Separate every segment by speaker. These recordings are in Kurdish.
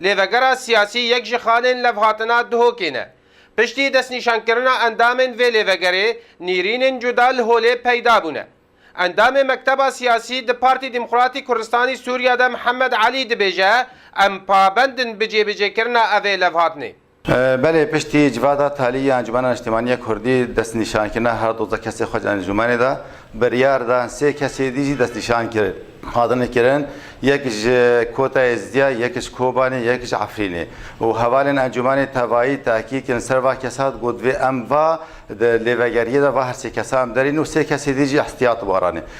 Speaker 1: Lêvegera siyasî yek ji xalên levhatina Duhokê ne. Piştî destnîşankirina endamên vê lêvegerê nîrînên cuda li holê peyda bûne. Endamê mekteba siyasî di Partî Demokratî Kurdistanî Sûriye de Mihemed Elî dibêje, Em pabend in bi cêbicêkirina evê levhatinê. Belê piştî
Speaker 2: civata talî ya Encûmena Niştimanî ya Kurdî destnîşankirina her dozda kesên xwe ji encûmenê de biryar da, sê kesê dî jî destnîşan kirin. Hatine kirin yek ji Kota Êzidîya, yek ji Kobanê, yek ji Efrînê û hevalên encûmenê tevayî tehkîk kirin ser va kesa di got vê em va di lêvegeriyê de va her sê kesan derîn û sê kesê dî jî îhtiyat waranê.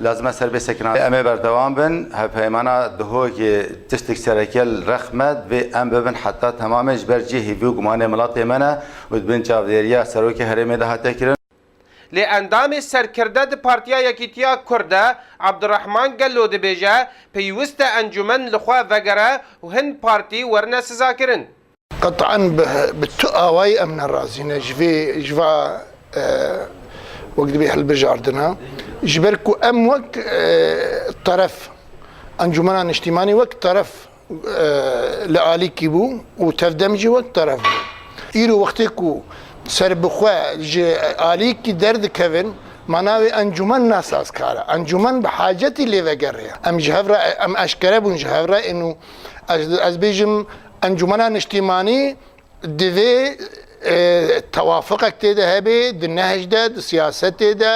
Speaker 2: Lazim e ser vê sekinanê em ê berdewam bin. Hevpeymana Dihokê tiştek sereke li rex me, divê em bibin heta temamê ji ber cihê vî û gumanê milatê me ne û di bin çavdêriya Serokê Herêmê de hate kirin. Lê endamê
Speaker 1: serkirde di Partiya Yekîtiya Kurd de Abdurehman Gello dibêje, pêwist e encûmen li xwe vegere û hin partî werine sizakirin. Qet'an
Speaker 3: bi tu awayî em ne razî ne ji vê ji va wek dibê hilbijardina. Ji ber ku em wek teref Encûmena Niştîmanî wek teref li alîkî bû û tevdem jî wek teref bû. Îro wextê ku serbixwe ji alîkî derdikevin ma navê encûmen ne sazkar e. Encûmen bi hacetî lêveger e. Em ji hev re em eşkere bûn ji hev re ên û ez dibêjim Encûmena Niştîmanî divê tewafuqek tê de hebê di nehj de, di siyasetê de,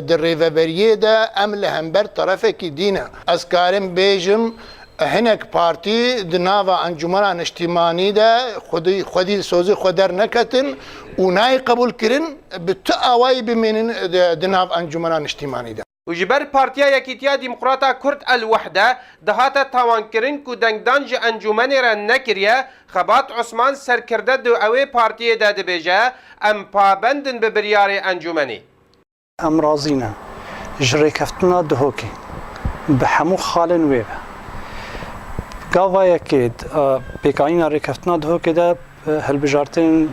Speaker 3: di rêveberiyê de em li hember terefekî dî ne. Ez karim bêjim hinek partî di nava Encûmena Niştîmanî de xwedî li sozê xwe derneketin û nayê qebûlkirin bi tu awayî bimînin di nav Encûmena Niştîmanî de. û ji ber Partiya
Speaker 1: Yekîtiya Dîmqrata Kurd El Wehde dihate tawankirin ku dengdan ji encûmenê re nekiriye, Xebat Osman serkirde di wê partiyê de dibêje, Em pabend in bi biryarê encûmenê. Em
Speaker 4: razî ne ji rêkeftina Dihokê bi hemû xalên wê ve. Gava yekê di pêkanîna rêkeftina Dihokê de Hilbijartin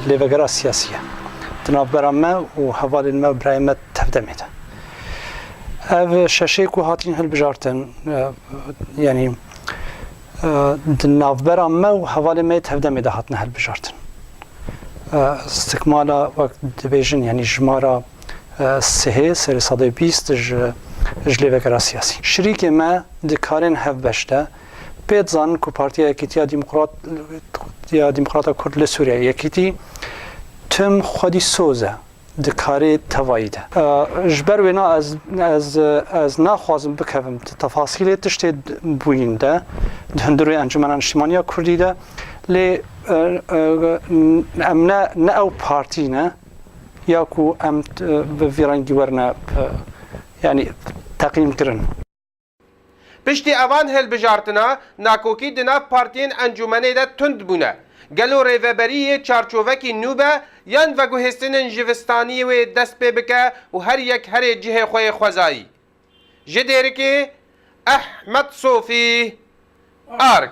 Speaker 4: lêvegera siyasî ye di navbera me û hevalên me û birayên me tevdemê de. Ev şeşê ku hatîn hilbijartin yanî di navbera me û hevalên me yê tevdemê de hatine hilbijartin. Stikmala wek dibêjin yanî jimara sihê serê sedê bîst ji lêvegera siyasî. Şirîkê me di karên hevbeş de Pê dizanin ku Partiya Yekîtiya Demokrat ya Demokrata Kurd li Sûriyeyê, Yekîtî, tim xwedî soz e di karê tevayî de. Ji ber wêna ez ez naxwazim bikevim di tefasîlê tiştê bûyîn de di hundir wê Encûmena Niştimaniya Kurdî de lê em ne ne ew partî ne ya ku em bi vî rengî werine yanî teqîmkirin.
Speaker 1: Piştî evan hilbijartina, nakokî di nav partiyên encûmenê de tund bûne. Gelo rêveberî yê çarçovekî nû be yan veguhêstinên jivistaniyê wê dest pê bike û her yek herê cihê xwe yê xwezayî? Ji Dêrikê Ehmed Sofî, arg.